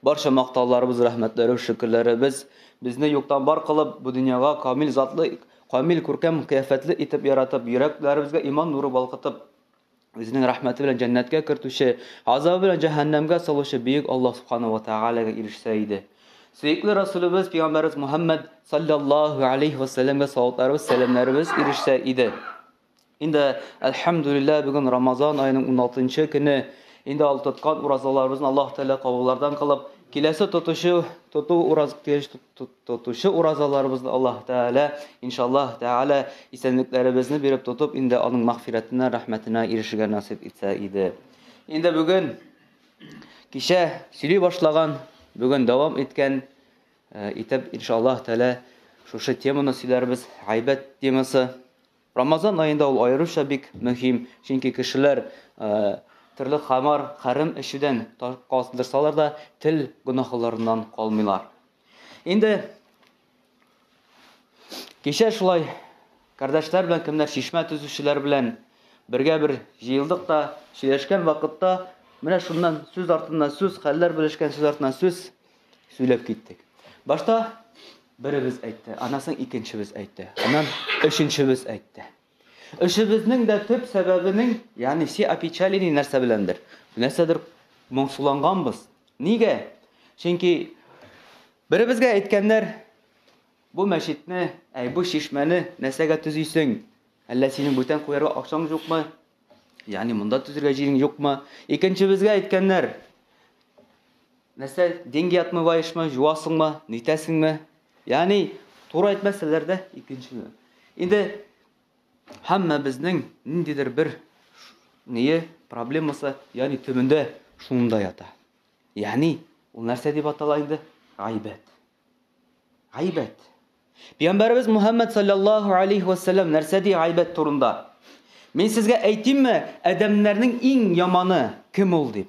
Барча мактауларыбыз, рәхмәтләребез, шөкерләребез безне юктан бар кылып, бу дөньяга камил затлы, камил күркәм кыяфәтле итеп яратып, йөрәкләребезгә иман нуры балкытып, үзенең рәхмәте белән җәннәткә кертүче, газабы белән җәһәннәмгә салучы бөек Аллаһ субхана ва тәгаләгә ирешсә иде. Сөекле Расулебез, пәйгамбәребез Мөхәммәд салләллаһу алейһи ва сәлләмгә салаватларыбыз, сәламнәребез ирешсә иде. Инде әлхәмдүлилләһ бүген Рамазан аеның 16 нчы көне. Инде ал тоткан уразаларыбызны Аллаһ Тәгалә кабуллардан кылып, киләсе тотучы тоту ураз килеш тотучы уразаларыбызны Аллаһ Тәгалә иншаллаһ Тәгалә исәнлекләребезне биреп тотып, инде аның мәгъфирәтенә, рәхмәтенә ирешергә насыйп итсә иде. Инде бүген кичә сөйли башлаган, бүген дәвам иткән э, итеп иншаллаһ Тәгалә шушы теманы сөйләрбез, гайбәт темасы. Рамазан аенда ул аеруча бик мөһим, чөнки кешеләр төрле хамар, хәрам эчүдән калдырсалар да, тел гөнаһларыннан калмыйлар. Инде кичә шулай кардәшләр белән кемнәр чишмә төзүчеләр белән бергә бер җыелдык та, сөйләшкән вакытта менә шуннан сүз артыннан сүз, хәлләр белешкән сүз артыннан сүз сөйләп киттек. Башта беребез әйтте, аннан соң икенчебез әйтте, аннан өченчебез әйтте. Өчебезнең дә төп сәбәбенең, ягъни все опечалили нәрсә беләндер. Нәрсәдер моңсуланганбыз. Нигә? Чөнки беребезгә әйткәннәр, бу мәчетне, әй бу чишмәне нәрсәгә төзисең? Әллә синең бүтән куярга акчаң юкмы? Ягъни монда төзергә җирең юкмы? Икенчебезгә әйткәннәр, Нәрсә, деньги отмываешмы, җуасыңмы, нитәсеңме? Ягъни, туры әйтмәсәләр дә, икенчене. Инде һәммә безнең ниндидер бер ние проблемасы, ягъни төбендә шунда ята. Ягъни, ул нәрсә дип атала инде? Гайбәт. Гайбәт. Пәйгамбәрбез Мухаммад саллаллаһу алейхи ва саллям нәрсә ди гайбәт турында? Мин сезгә әйтимме, адәмнәрнең иң яманы кем ул дип?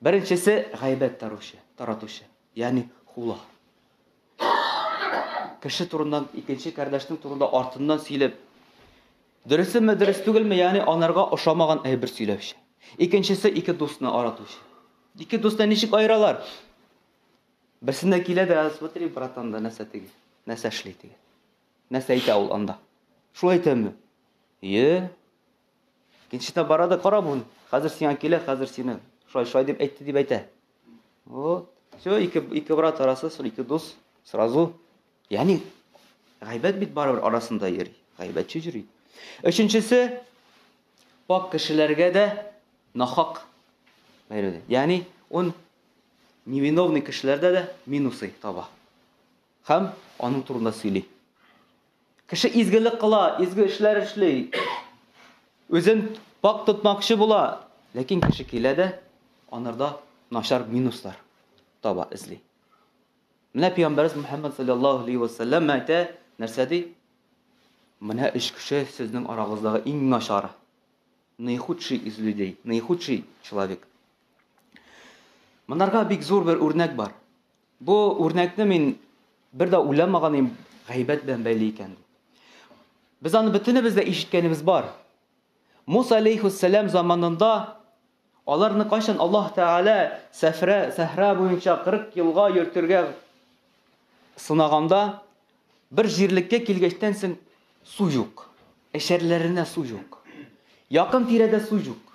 Беренчесе гайбәт таручы, таратучы, ягъни хула. Кеше турыннан икенче кардәшнең турында артыннан сөйләп, дөресеме, дөрес түгелме, ягъни анарга ошамаган әйбер сөйләүче. Икенчесе ике дусны аратучы. Ике дусны ничек аералар? Берсенә килә дә, смотри, братан да нәрсә теге, нәрсә эшли теге. Нәрсә әйтә ул анда? Шулай әйтәме? Е, Икенчесенә бара да кара бу. Хәзер сиңа килә, хәзер сине шулай шулай дип әйтте дип әйтә. Вот. Все, ике ике брат арасы, сол ике дус сразу. Яни гайбәт бит барыбер арасында йөри. Гайбәтче йөри. Өченчесе пак кешеләргә дә нахак бәйләде. Яни он невиновный кешеләрдә дә минусы таба. Хәм аның турында сөйли. Кеше изгелек кыла, изге эшләр эшли. Үзен пак тотмакчы була, ләкин кеше килә дә анарда начар минуслар таба, эзли. Менә пәйгамбәрбез Мөхәммәд саллаллаһу алейхи ва саллям әйтә, нәрсә ди? Менә өч кеше сезнең арагыздагы иң начар. Наихудший из людей, наихудший человек. Монарга бик зур бер үрнәк бар. Бу үрнәкне мин бер дә уйламаган идем, гайбәт белән бәйле икән. Без аны бөтенебез дә ишеткәнебез бар. Муса алейхиссалам заманында аларны кайчан Аллаһ Тәгалә сәфрә, сәһра буенча 40 елга йөртергә сынаганда бер җирлеккә килгәчтән соң су юк. Эшәрләренә су юк. Якын тирәдә су юк.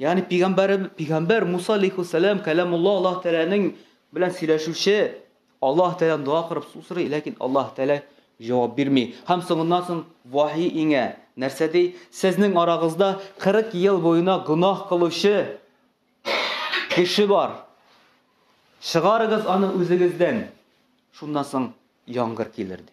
Ягъни пигамбәр пигамбәр Муса алейхиссалам кәламулла Аллаһ Тәгаләнең белән сөйләшүче Аллаһ Тәгалән дога кырып су сорый, ләкин Аллаһ Тәгалә җавап бирми. Һәм соңыннан соң вахи иңә. Нәрсә ди? Сезнең арагызда 40 ел буена гөнаһ кылучы кеше бар. Чыгарыгыз аны үзегездән. Шуннан соң яңгыр килер ди.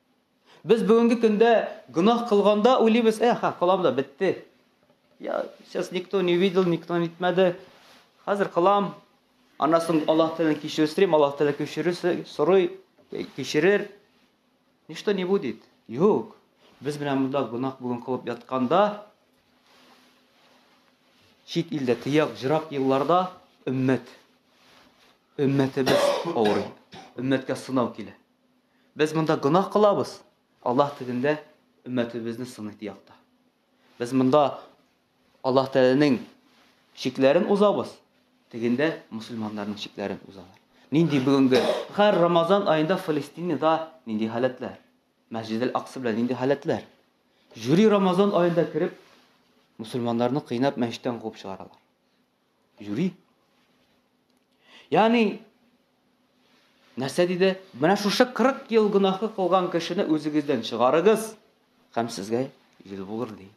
Без бүгенге көндә гөнаһ кылганда уйлыйбыз, э, ха, кылам да бетте. Я, сейчас никто не видел, никто не итмәде. Хәзер кылам. Аннан соң Аллаһ телен кичерүстрим, Аллаһ теле кичерүсе, сорый, э, кичерер. Ничто не будет. Юк. Без белән монда гөнаһ бүген кылып ятканда, чит илдә тыяк, җырак елларда өммәт. Өммәтебез авырый. Өммәткә сынау килә. Без монда гөнаһ кылабыз, Аллаһ тегендә өммәтебезне сыный, ди якта. Без монда Аллаһ Тәгаләнең чикләрен узабыз, тегендә мусульманнарның чикләрен узалар. Нинди бүгенге хәр Рамазан аенда Фалестинада нинди халәтләр? Мәсҗидел Акса белән нинди халәтләр? Жюри Рамазан аенда кереп мусульманнарны кыйнап мәчеттән куып чыгаралар. Юри. Яни нәрсә диде? Менә шушы 40 ел гөнаһы кылган кешене үзегездән чыгарыгыз, һәм сезгә ел булыр ди.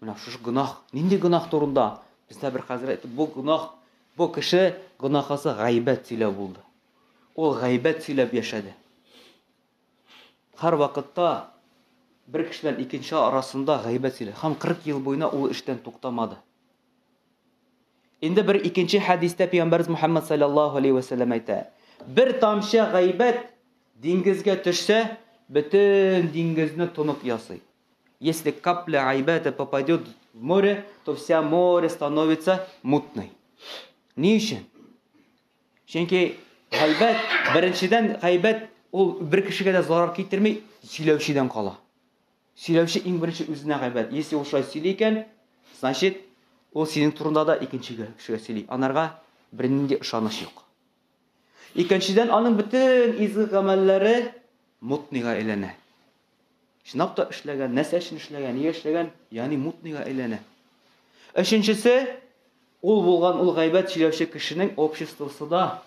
Менә шушы гөнаһ, нинди гөнаһ турында? Бездә бер хәзрәт бу гөнаһ, бу кеше гөнаһысы гайбәт сөйләү булды. Ул гайбәт сөйләп яшәде. Һәр вакытта бер кешедән икенче арасында гайбәт сөйләде. Һәм 40 ел буена ул эштән туктамады. Инде бер икенче хәдистә пәйгамбәрбез Мухаммад саллаллаһу алейһи ва сәлләм әйтә, бер тамчы гайбәт диңгезгә төшсә, бөтен диңгезне тонып ясый. Если капля гайбәте попадет в море, то вся море становится мутной. Ни өчен? Чөнки гайбәт, беренчедән гайбәт ул бер кешегә дә зарар китерми, сөйләүчедән кала. Сөйләүче иң беренче үзенә гайбәт. Если ул шулай сөйли икән, значит, ул синең турында да икенчегә кешегә сөйли. Анарга бернинди ышаныч юк. Икенчедән, аның бөтен изге гамәлләре мутныйга әйләнә. Чынлап та эшләгән, нәрсә өчен эшләгән, нигә эшләгән, ягъни мутныйга әйләнә. Өченчесе, ул булган ул гайбәт сөйләүче кешенең обществосы да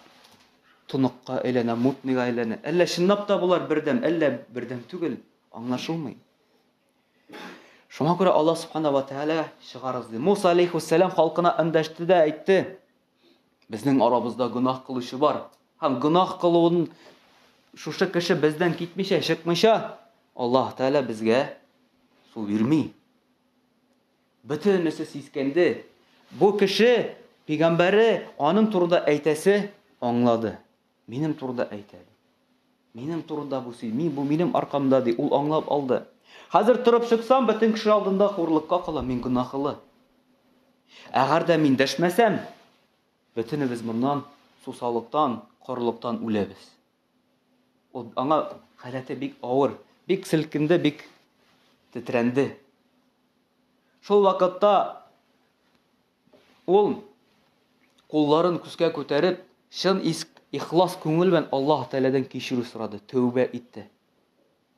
тоныкка әйләнә, мутныйга әйләнә. Әллә чынлап та болар бердәм, әллә бердәм түгел. Аңлашылмый. Шуңа күрә Аллаһ Субхана ва Тәгалә чыгарыз ди. Муса алейхиссалам халкына эндәште дә әйтте. Безнең арабызда гөнаһ кылучы бар. Һәм гөнаһ кылуын шушы кеше бездән китмичә, чыкмыйча, Аллаһ Тәгалә безгә су бирми. Бөтенесе сискәнде. Бу кеше пигамбәре аның турында әйтәсе аңлады. Минем турыда әйтә. Минем турыда бу сөй, мин бу минем аркамда ди, ул аңлап алды. Хәзер торып чыксам, бөтен кеше алдында хурлыкка калам, мин гөнаһлы. Әгәр дә мин дәшмәсәм, бөтенебез моннан сусалыктан, корылыктан үләбез. Ул аңа халәте бик авыр, бик селкенде, бик тетрәнде. Шул вакытта Ул, кулларын күскә күтәреп, чын иск, ихлас күңел белән Аллаһ Тәгаләдән кичерү сорады, тәүбә итте.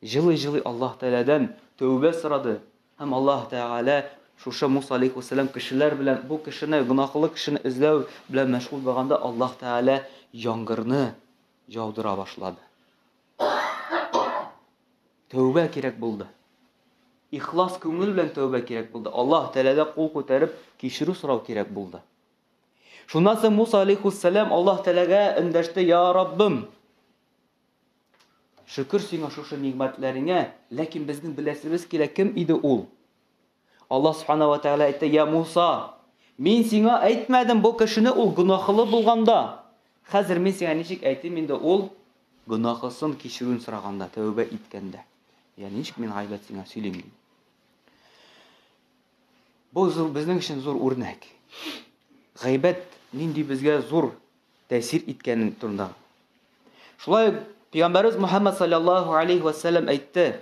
Җылый-җылый Аллаһ Тәгаләдән тәүбә сорады һәм Аллаһ Тәгалә шушы Муса алейкуссәлам кешеләр белән бу кешене, гөнаһлы кешене эзләү белән мәшгуль булганда, Аллаһ Тәгалә яңгырны яудыра башлады. Тәүбә кирәк булды. Ихлас күңел белән тәүбә кирәк булды. Аллаһ Тәгаләдә кул күтәреп кичерү сорау кирәк булды. Шуннан соң Муса алейхиссалам Аллаһ Тәгаләгә эндәште: "Я Раббым, шөкер сиңа шушы нигъмәтләреңә, ләкин безнең беләсебез килә кем иде ул?" Аллаһ Субхана вә Тәгалә әйтте, Йә Муса, Мин сиңа әйтмәдем бу кешене ул гөнаһлы булганда. Хәзер мин сиңа ничек әйтим инде ул гөнаһысын кичерүен сораганда, тәүбә иткәндә. Йә ничек мин гайбәт сиңа сөйлим? Бу зур безнең өчен зур үрнәк. Гайбәт нинди безгә зур тәэсир иткән турында. Шулай Пәйгамбәрбез Мухаммад саллаллаһу алейхи ва саллям әйтте,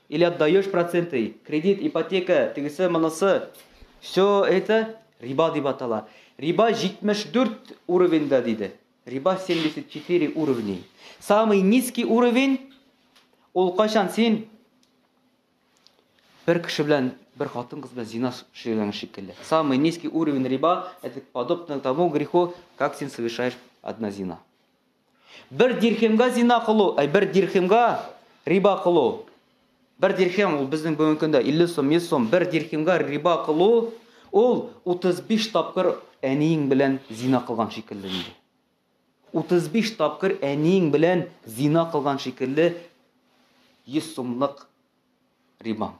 Или отдаешь проценты, кредит, ипотека, тегесе, монысы. Все это риба дип атала. Риба 74 уровеньда диде. Риба 74 уровень. Самый низкий уровень ул кайчан син бер кеше белән бер хатын кыз белән зина сөйләгән шикелле. Самый низкий уровень риба это подобно тому греху, как син совершаешь одна зина. Бер дирхемгә зина кылу, әй бер дирхемгә риба кылу. Бер дирхем ул безнең бүгенге көндә 50 сум, 100 сум. Бер дирхемгә риба кылу ул 35 тапкыр әниең белән зина кылган шикелле инде. 35 тапкыр әниең белән зина кылган шикелле 100 сумлык риба.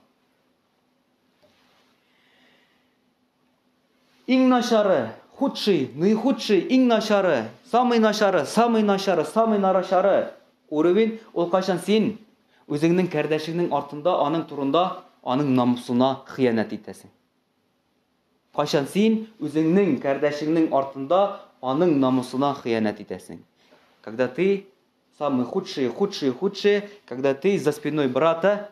Иң начары, худший, наихудший, иң начары, самый начары, самый начары, самый нарачары. Уровень ул кайчан син үзеңнең кардәшеңнең артында, аның турында, аның намусына хыянәт итәсең. Кайчан син үзеңнең кардәшеңнең артында, аның намусына хыянәт итәсең. Когда ты самый худший, худший, худший, когда ты за спиной брата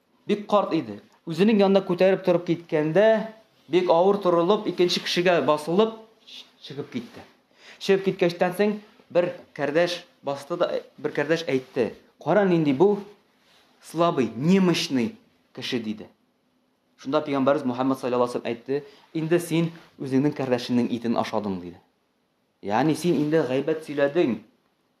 Бик карт иде. Үзенең янына күтәреп торып киткәндә, бик авыр торылып, икенче кешегә басылып чыгып китте. Чыгып киткәчтән соң бер кәрдәш басты да, бер кәрдәш әйтте. Кара нинди бу слабый, немощный кеше диде. Шунда пәйгамбәрбез Мухаммад саллаллаху алейһи әйтте, инде син үзеңнең кардәшеңнең итен ашадың диде. Ягъни син инде гайбәт сөйләдең.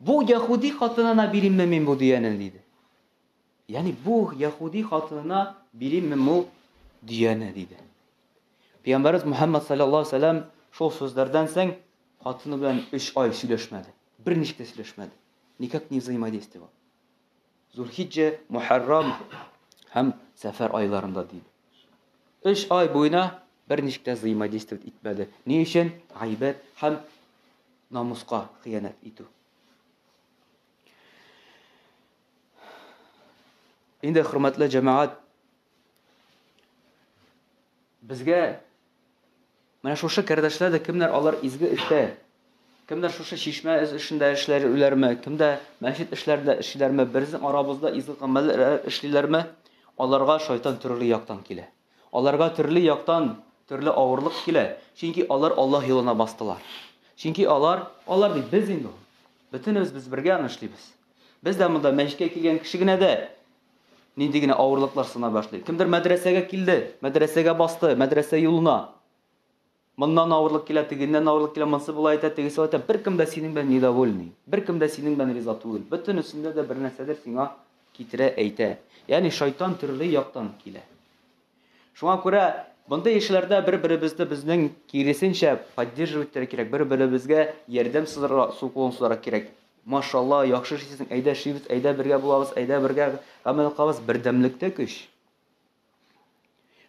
Бу яһүди хатынына биримме мин бу дөяне? диде. Ягъни бу яһүди хатынына бирим бу дөяне? диде. Пәйгамбәрбез Мухаммад саллаллаһу алейһи ва саллям шул сүзләрдән соң хатыны белән 3 ай сөйләшмәде. Берничек тә сөйләшмәде. Никак не взаимодействовал. Зулхиҗҗә, Мөхәррам һәм Сәфәр айларында ди. Өч ай буена берничек тә взаимодействовать итмәде. Ни өчен? Гайбәт һәм намуска хыянәт итү. Инде хөрмәтле җәмәгать Безгә менә шушы кардәшләр дә кемнәр алар изге эштә, кемнәр шушы чишмә эшендә эшләрләрме, кемдә мәчет эшләрендә эшлиләрме, безнең арабызда изге гамәлләр эшлиләрме, аларга шайтан төрле яктан килә. Аларга төрле яктан төрле авырлык килә, чөнки алар Аллаһ юлына бастылар. Чөнки алар, алар дип без инде ул. Бөтенебез без бергә аны эшлибез. Без дә монда мәчеткә килгән кеше генә дә Нинди генә авырлыклар сына башлый. Кемдер мәдрәсәгә килде, мәдрәсәгә басты, мәдрәсә юлына. Моннан авырлык килә, тегеннән авырлык килә, монсы болай әйтә, тегесе әйтә. Беркем дә синең белән недовольный. Беркем дә синең белән риза түгел. Бөтенесендә дә бер нәрсәдер сиңа китерә әйтә. Ягъни шайтан төрле яктан килә. Шуңа күрә мондый эшләрдә бер-беребезне безнең киресенчә поддерживать итәргә кирәк, бер-беребезгә ярдәм сузарга, су кулын сузарга кирәк. Машалла, яхшы эшлисең, әйдә эшлибез, әйдә бергә булабыз, әйдә бергә гамәл кылабыз, бердәмлектә көч.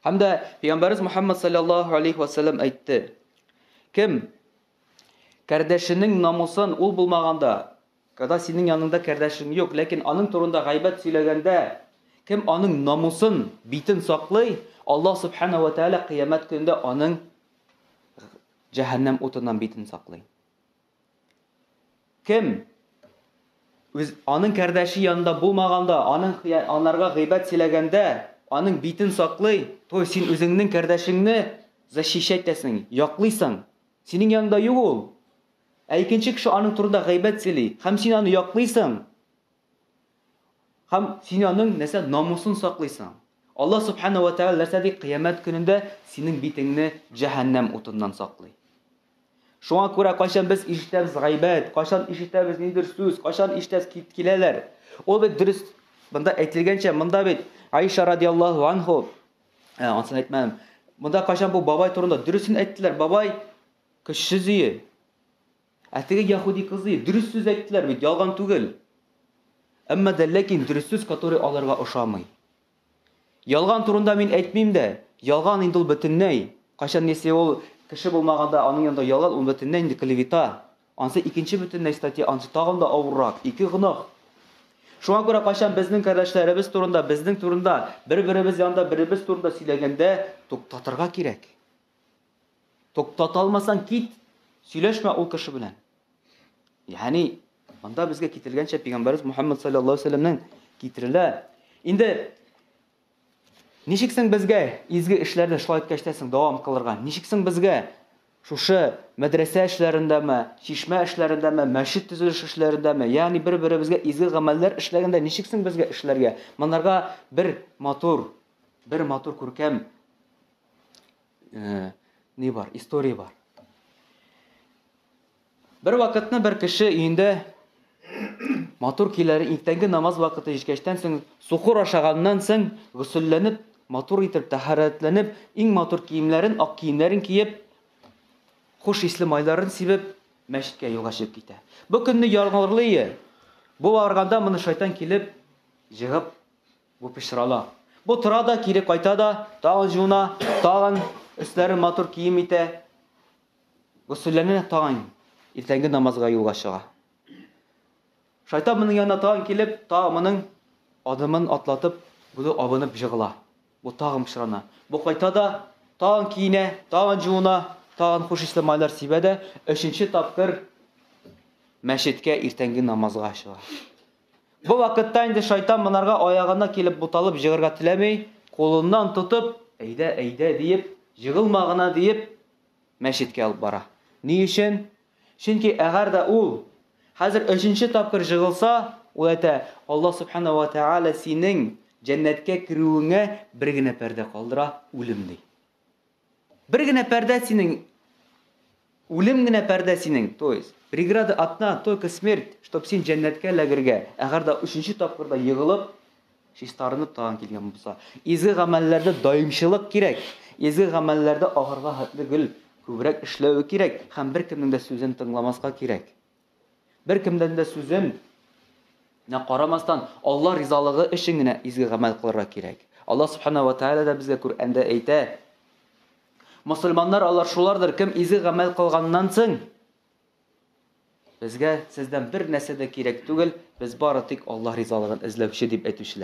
Һәм дә Пәйгамбәрбез Мөхәммәд саллаллаһу алейхи ва саллям әйтте. Кем кардәшенең намусын ул булмаганда Кода синең яныңда кардәшең юк, ләкин аның турында гайбәт сөйләгәндә, кем аның намусын, битен саклый, Аллаһ Субхана вә Тәгалә кыямәт көнендә аның җәһәннәм утыннан битен саклый. Кем үз аның кардәше янында булмаганда, аның анарга гыйбат сөйләгәндә, аның битен саклый, то син үзеңнең кардәшеңне защищать итәсең, яклыйсың. Синең яныңда юк ул. Ә икенче кеше аның турында гайбәт сөйли, һәм син аны яклыйсың, һәм син аның нәрсә намусын саклыйсың. Аллаһ Субхана вә Тәгалә нәрсә ди, кыямәт көнендә синең битеңне җәһәннәм утыннан саклый. Шуңа күрә кайчан без ишетәбез гайбәт, кайчан ишетәбез ниндер сүз, кайчан ишетәбез кит киләләр. Ул бит дөрес. Монда әйтелгәнчә, монда бит Аиша радиаллаһу анху, ә, ансын әйтмәдем. Монда кайчан бу бабай турында дөресен әйттеләр, бабай Кеше зөе. Ә теге яхуди кызы дөрес сүз әйттеләр бит, ялган түгел. Әмма дә ләкин дөрес сүз, который аларга ошамый. Ялган турында мин әйтмим дә, ялган инде ул бөтенләй. Кайчан если ул кеше булмаганда аның янында ялган, ул бөтенләй инде клевета. Ансы икенче бөтенләй статья, ансы тагын да авыррак, ике гөнаһ. Шуңа күрә кайчан безнең кардәшләребез турында, безнең турында, бер-беребез янында беребез турында сөйләгәндә туктатырга кирәк. Туктата алмасаң кит, сөйләшмә ул кеше белән. Ягъни монда безгә китерелгәнчә пәйгамбәрбез Мухаммад саллаллаһу алейһи вәсәлләмнән китерелә. Инде ничек соң безгә изге эшләрдә шулай иткәчтәсең дәвам кылырга? Ничек соң безгә шушы мәдрәсә эшләрендәме, чишмә эшләрендәме, мәчет төзелеш эшләрендәме, ягъни бер-беребезгә изге гамәлләр эшләгәндә ничек соң безгә эшләргә? Монарга бер матур, бер матур күркәм Э, не бар, история бар. Бер вакытны бер кеше өендә матур киләре иртәнге намаз вакыты җиткәчтән соң сукыр ашаганнан соң гөсөлләнеп матур итеп тәһарәтләнеп иң матур киемнәрен ак киемнәрен киеп хуш исле майларын сибеп мәчеткә юлга чыгып китә бу көнне яңгырлый бу арганда моны шайтан килеп җыгып Бу пычрана. Бу тора да, кире кайта да, тагын җуына, тагын өсләрен матур кием итә. Госүлләнә тагын иртәнге намазга юлга чыга. Шайтан моның янына тагын килеп, тагын моның адымын атлатып, буны абынып җыгыла. Бу тагын пычрана. Бу кайта да, тагын киенә, тагын җуына, тагын хуш исле майлар сибә дә, өченче тапкыр мәчеткә иртәнге намазга чыга. Бу вакытта инде шайтан монарга аягына килеп буталып җыгырга теләми, кулыннан тотып, әйдә, әйдә диеп, җыгылма гына диеп, мәчеткә алып бара. Ни өчен? Чөнки әгәр дә ул хәзер өченче тапкыр җыгылса, ул әйтә, Аллаһ Субхана вә Тәгалә синең җәннәткә керүеңә бер генә пәрдә калдыра, үлем, ди. Бер генә пәрдә синең Үлем генә пәрдә синең, то есть, преграда одна, только смерть, чтоб син җәннәткә эләгергә, әгәр дә өченче тапкыр да егылып, чистарынып тагын килгән булса. Изге гамәлләрдә даимчылык кирәк. Изге гамәлләрдә ахырга хәтле гел күбрәк эшләве кирәк һәм беркемнең дә сүзен тыңламаска кирәк. Беркемдән дә сүзем нә карамастан, Алла ризалыгы өчен генә изге гамәл кылырга кирәк. Алла Субхана ва Тааля да безгә Күрәндә әйтә, Мосылманнар алар шулардыр, кем изге гамәл кылганнан соң, безгә сездән бер нәрсә дә кирәк түгел, без бары тик Алла ризалыгын эзләүче дип әйтүчеләр.